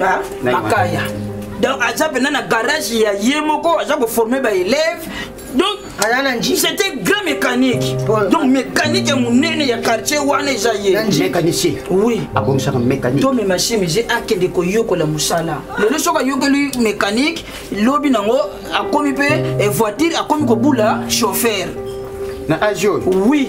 ah, makaya donc aza mpena na garage ya ye moko aza koforme baelève donc c'était grand mécanique donc mécanique ya monene ya quartier wana eza ye mécanicien oui abongisaka mécanique to mema chemise akende koyokola mosala lelo soki ayokeli mécanique lobi nango akomi mpe eh, voiture akomi kobula chauffeur na age oyo oui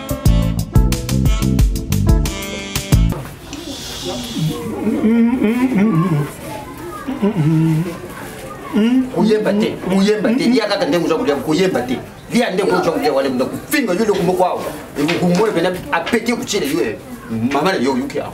koyemba te koyemba te lia kaka ndenge oza kolia koyemba te lia ndenge oza kolia wana mna kofinga yo eloko moko awa ekokumoyo mpena apeti kotyela yo mama na yo oyuki awa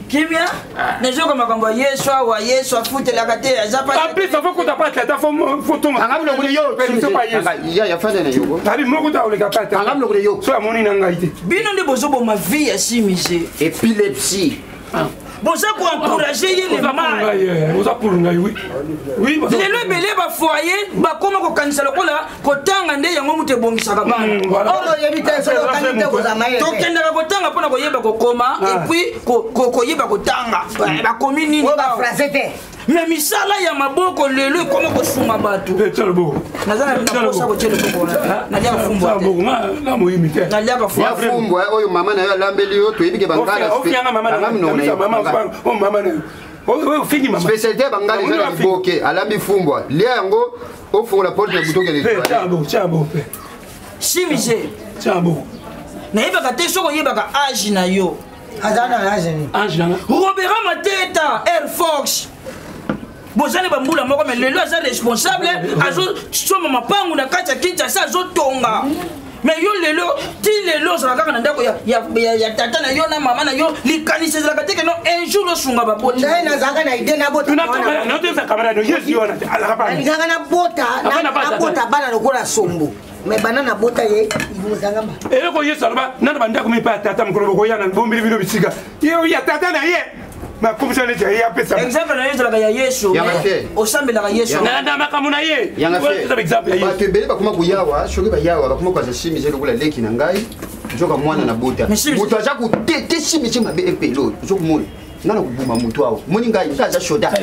kimia ah. nazoka makambo ya yesu awa yesu afutelaka te aza paplus afo kuta pati ata fotongaoabi moko ta oleka patiso amoni na ngai te bino nde bozoboma vie ya simise epilepsie ah. boza koencourage ye le mal lelo ebele bafoye bakoma kokanisa lokola kotanga nde yango moto ebongisaka bana tokendaka kotanga mpo na koyeba kokoma ah. epuis koyeba kotanga eh, bakomi nini me misala ya maboko lelo ekoma kosunga bato oyo mama na yo alambeli yo toyebi ke bangala spécialité ya bangala eza na liboke alambi fumbwa lia yango ofungola porte ya butu okende toilette shimije nayebaka te soki oyebaka age na yo aza na age nini age na robera mateta air fox boza na bambula moko me lelo aza responsable azosomba mapangu na kati ya kinshasa azotonga mais yo lelo ti lelo ozala kaka na ndako ya, ya, ya, ya tata na yo na mama na yo likanisi ezalaka te keno un jour osunga babotingai nazalaka na ide nabotaezalaka na bota nabota bana lokola sombo me bana nabota ye mozangama eloko yesu aloba nana bandako mipa ya tata mokolo bokoyana bombeli bino bisika yo ya tata na ye nakomisa neti aye apesa exemple na yo ezalaka ya yesu osambelaka yesu na makambo na ye bato ebele bakoma koyawa soki bayawa bakoma kokaza simisi lokola leki na ngai nzoka mwana na bota moto aza kotete simisi mabe epelo ozokomona nga nakobuma motu awa moni ngai nga aza soda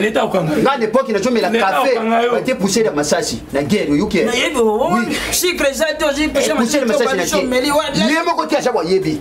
nga nepoki nazomela kafe bate pusele ya masasi na guerre oyoki ye moko te aza wayebi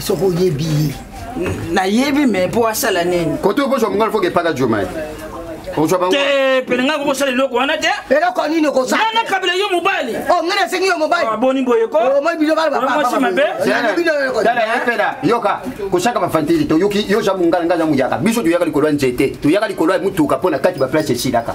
soki oyebi ye nayebi me mpo asala nini kote okozwa mongala foke epaka jomae te pene ngai kokosala eloko wana te eloko nini okosana kabila yo mobali oh, ngai nasengi yo mobali ah, boni boye komoi oh, bino balmasi mabe yoka kosaka bafantili toyoki yo ja mongala ngai ja moyaka biso toyaka likolo ya nzete toyaka likolo ya motuka mpo na kati baplace esilaka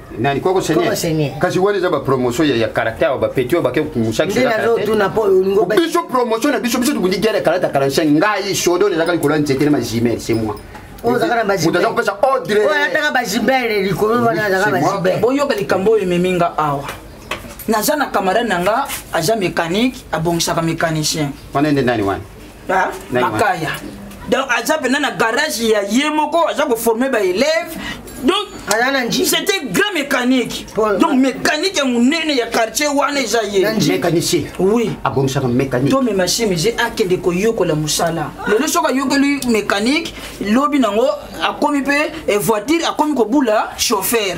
nani koko senie kasi wana eza bapromotion ya caractère bapeti oyo bake komusabiso promotion na biso biso tobundi guerre ya kalata 45 ngai sodo nezaka likolo ya nzete na majimel c'est moi moto aza kopesa odreataka bajibele likolo wana azaka bajibele boyoka likambo oyo ememi nga awa naza na camarade na nga aza mécanique abongisaka mécanicien wana nde nani wana ah, makaya donc aza mpena na garage ya ye moko aza koforme baelève donc c'était grand mécanique donc mécanique ya monene ya quartier wana eza ye mécanicien oui abongisaka mécanique to mema chemise akende koyokola mosala lelo soki ayokeli mécanique lobi nango akomi mpe eh, voiture akomi kobula chauffeur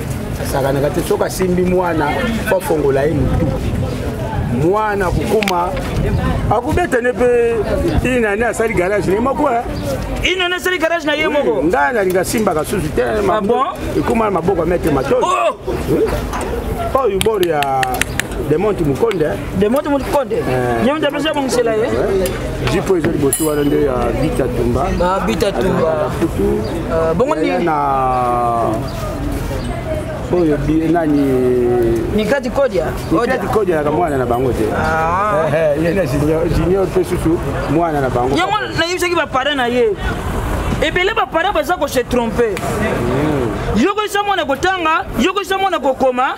asakanaka te soki asimbi mwana po afongola ye motu mwana kokoma akobeta ne mpe inane asali garage na ye moko eh? inane asali garage na ye moko ngai nalinga simbaka susu te ah ekoma na maboko ya maitre matoi oh! oyo bor ya demonte mokonde eh? demonte mokonde eh. ye moto apesi abongisela ye jipo eza liboso wana nde ya bitatumba ah, bitatumba bongo nini oyo bie nani mikati kodia mikati kodia naka mwana na bango te ah. eh, eh, ye na junior mpe susu mwana na bango yango nayebisaki bapare na ye ebele bapare baza ko se trompe hmm. yokoyisa mwana kotanga yokoyisa mwana kokoma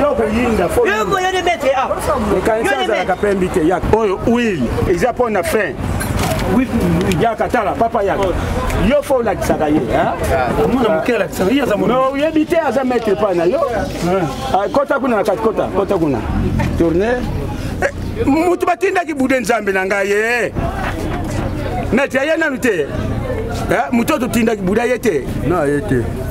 yo koyinda yoko yo debetre a ekanisi azalaka pembi te yak oyo wil eza mpo na fin yaka tala papa yaka yo fo olakisaka ye omona moke alakisaka ye aza no oyebi te aza maître epai na yo ah, kota kuna na kati kota kota kuna tourne eh, motu batindaki bude nzambe na ngai ye eh. maître aye nanu te eh, motu oyo totindaki bude aye te na aye te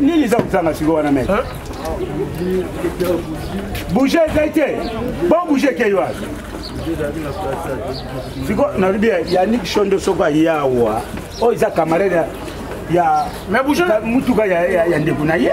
nini eza kozanga siko wana mete bouge ezai te bon bouge ekei wana siko nalobi yanik shondo soko ayawa oyo eza camarade ya mutuka ya ndeko na ye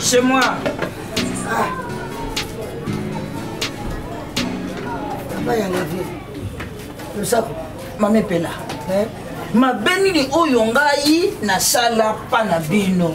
Chez moi. Ah. Papa ya la vie. Le saco. Mame Pela. Eh? mabe nini oyo ngai nasala mpa na bino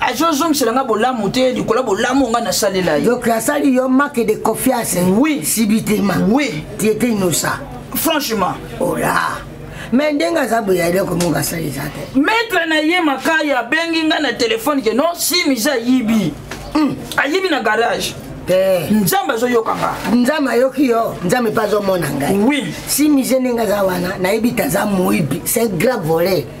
azozongisela nga bolamu te likolo ya bolamu nga nasalela ye donc asali yo make de confiance oui sibitema oui tu étais innocent franchement ola oh me ndenge aza boye eloko moko asali eza te maître na ye makaya abengi nga na telefone ke non simi eza yibi hmm. ayibi na garage te nzambe azoyoka nga nzambe ayoki yo nzambe mpe azomona ngai oui simize ndenge aza wana nayebi te aza moyibi c'est grave volet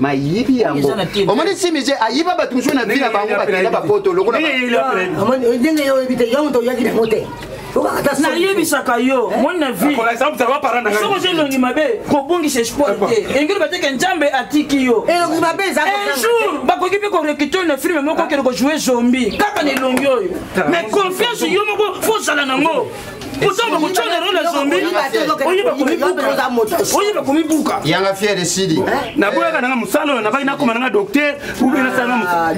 mayibi yango omoni simije ayiba bato mosusu na vi na bango bakenda bapoto lokolondenge yo oyebi te yo moto oyaki nango te nayebisaka yo eh? moi na viesoko oza elongi mabe kobungisa espoir te eh, eh, engeli bateke nzambe atiki yo un jour bakoki mpe korekite oyo na filme moko okende kojoue zombi kaka na elongi oyo mais confiance yo moko fo ozala nango kotanga kotanga yango na zombi oye bakomibuka oye bakomibuka yanga fier esili eh? naboyaka nanga mosala oyo nabaki nakoma nanga docteur ube nasala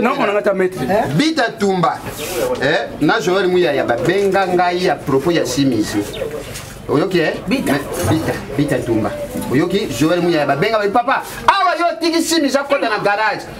nakomananga ta maître eh? bita tumba eh? na joel muyaya babenga ngai ya propos ya simisi oyoki e bita bita tumba oyoki joel muyaya babenga bai papa awa yo otiki simisi akota na garage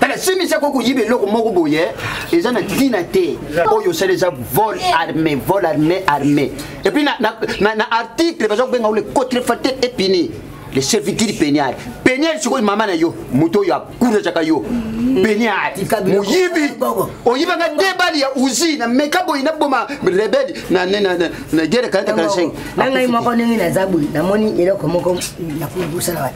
tala simisi akoki koyiba eloko moko boye eza na ntina te oyo osala eza vol armé vol armé armé epuis na, na, na, na article baza kobenga le contrefateur et puni le serviteur penial penial sikoyo mama na yo moto oyo akunazaka yo penial moyibi oyibaka te bali ya usi na meka boye naboma rebele na gere 45 nangai moko ndenge naza boye namoni eloko moko nakosala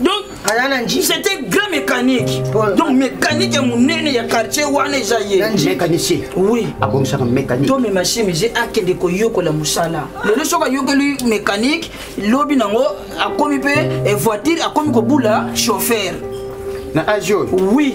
donc c'était grand mécanique donc mécanique ya monene ya quartier wana eza ye mécanicien oui abongisaka mécanique to mema chemise akende koyokola mosala lelo soki ayokeli mécanique lobi nango akomi mpe eh, voiture akomi kobula chauffeur na age oyo oui